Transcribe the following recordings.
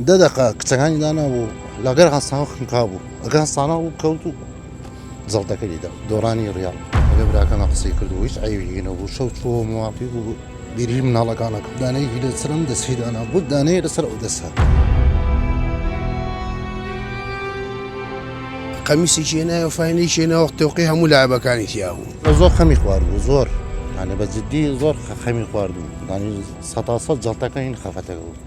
دە دەقە کچەکانی دانا بوو لەگەر هەستاوە خنکا بوو ئەگە هەستانە بوو کەوت و جڵتەکە لیدا دۆڕانی ڕیاڵ ئەگە براکەمە قسەی کردو هیچ ئەیوی نەبوو شەو چووە موواقی بوو بیری مناڵەکانە دانەیەکی لە سرم دەستی دانا بوو دانەیە لەسەر ئەو دەسە. قەمیسی چێنایە فینەی چێنەوە تۆقی هەموو لایبەکانی تیابوو زۆر خەمی خوارد بوو زۆر هەنێ بە جددی زۆر خەمی خوارد و دانی سەتاسە جڵتەکە هین خەفەتەکە بوو.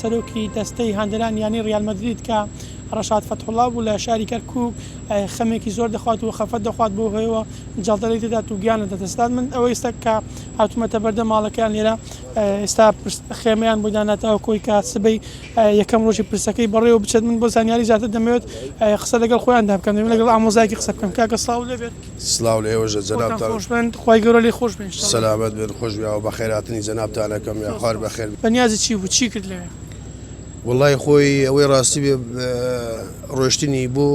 سەرۆکی دەستەی هاندەرانی یانەی ریال مەدرید کە رەشاد فەتحوڵا بوو لە شاری کەرکوک خەمێکی زۆر دەخوات و خەفەت دەخوات بەو هۆیەوە جەڵتە لی دەدات و گیان لە دەست دەدات من ئەوە ئیستا کە هاتومەتە بەردەم ماڵەکەیان لێرە ئیستا خێمەیان بۆ داناتەوە کۆی کە سبەی یەکەم رۆژی پرسەکەی بەڕێوە بچێت من بۆ زانیاری زیاتر دەمەوێت قسە لەگەڵ خۆیاندا بکەم دەمەوێت لەگەڵ ئامۆزایەکی قسە بکەم کاکە سڵاو لێبێت. سڵاو لە ئێوەشە جەنابتان. خۆتان خۆش بن خوای گەورە لێ خۆش بێ ان شاءاللە. سەلامەت بن خوش بێ ئەوە بەخێر هاتنی جەنابتان ئەکەم یا خوار بەخێر. بەنیازی چی بوو چی کرد لەوێ؟ وەڵای خۆی ئەوەی ڕاستی بێ ڕۆشتنی بۆ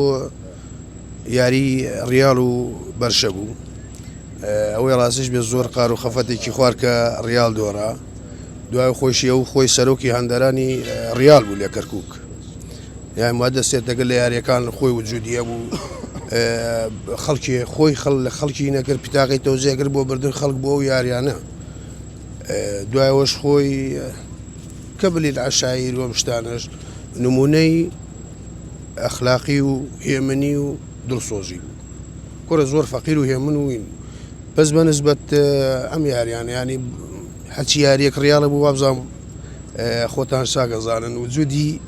یاری ڕیاڵ و بەرشە بوو ئەوەی ڕاستیش بێ زۆر قار و خەفەتێکی خوار کە ڕیاڵ دۆڕا دوای خۆشی ئەو خۆی سەرۆکی هەندەرانی ڕیاڵ بوو لە کەرکک یان وا دەستێت دەگەل لە یاریەکان خۆی وجودی ئەبوو خەڵکی خۆی خەڵ لە خەڵکی نەکرد پیتاقی تۆزێگر بۆ بردن خەڵک بۆ ئەو یاریانە دوایەوەش خۆی کە بلیت عشایر وەم شتانەش نمونەی ئەخلاقی و هێمنی و دڵسۆزی بوو کورە زۆر فەقیر و هێمن وین بوو بەس بە نسبەت ئەم یاریان ینی حەچی یاریەک ڕاڵە بوو وابزانام خۆتان ساگەزانن وجودی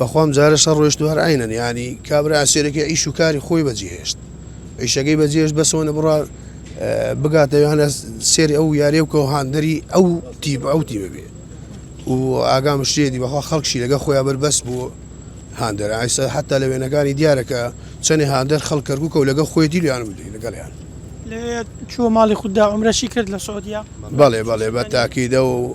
بەخوام جارێ شەڕ ڕۆیشتو هەر عەینەن یانی کابرا ئەسێرەکەی عیش و کاری خۆی بەجێ هێشت عیشەکەی بەجێش بەسەوەنە بڕا بگاتە یانە سێری ئەو یاریە بکەەوە هاندەری ئەو تیب ئەو تیبە بێ و ئاگام شتێدی بەخوا خەڵکشی لەگە خۆیان بەربەس بوو هاندەر ئایسا حتا لە وێنەکانی دیارەکە چەنێ هاندەر خەڵکەرگوکە و لەگە خۆی دیلیان بدەی لەگەڵیان لەوێ چوە ماڵی خوددا عمرەشی کرد لە سعودیا بەڵێ بەڵێ بە تاکیدە و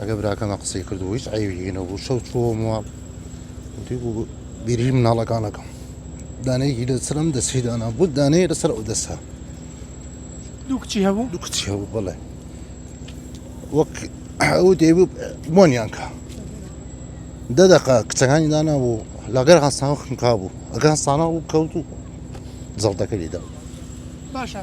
ئەگەر براکەمە قسەی کردو هیچ عیبی نەبوو شەو چووە ماڵ وتی بوو بیری مناڵەکانەکەم دانەیەکی لەسرم دەستی دانا بوو دانەیە لەسەر ئەو دەسە دوو کچی هەبوو دوو کچی هەبوو بڵێ وەک ئەو دێبوو بۆنیان کا دە دەقا کچەکانی دانا بوو لەگەر هەستان خنکا بوو ئەگەر هەستانە بوو کەوت و زەڵدەکەی دا باشە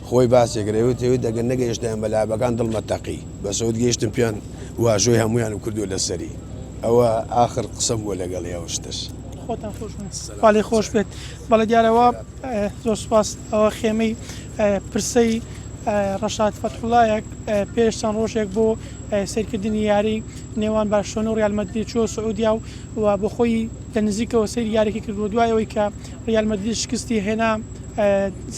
خۆی باسی کرد ئەوێت ئەوێت ئەگەر نەگەیشتایەن بە لابەکان دڵمە تەقی بەس ئەوت گەیشتم پێیان واژۆی هەموویانم کردووە لەسەری ئەوە ئاخر قسەم بووە لەگەڵی ئەو شتەش. خۆتان خۆش بن خوا لێ خۆش بێت بەڵێ دیارە وا زۆر سوپاس ئەوە خێمەی پرسەی ڕەشاد فەتحوڵایە پێش چەند ڕۆژێک بۆ سەیرکردنی یاری نێوان بارشۆنە و ڕیال مەدرید چووە سعودیا و و بۆ خۆی لە نزیکەوە سەیری یاریەکە کردووە دوای ئەوەی کە ریال مەدرید شکستی هێنا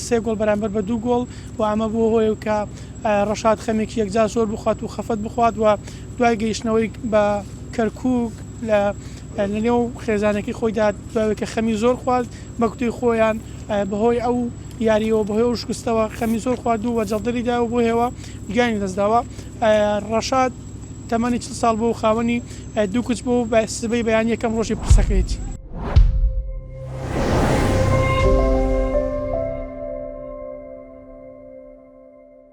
سێ گۆڵ بەرامبەر بە دوو گۆڵ و ئەمە بووە هۆیە کە ڕەشاد خەمێکی یەکجار زۆر بخوات و خەفەت بخوات و دوای گەیشتنەوەی بە کەرکک لە لەنێو خێزانەکەی خۆیدا دوای کە خەمی زۆر خوارد بە کوتەی خۆیان بەهۆی ئەو یاریەوە بەهۆی ئەو شکستەوە خەمی زۆر خوارد و وەجەڵدەریدا و بۆ هێوە گیانی دەستداوە ڕەشاد تەمەنی چل ساڵ بووە و خاوەنی دوو کچ بووە و بە سبەی بەیانی یەکەم ڕۆژی پرسەکەیەتی.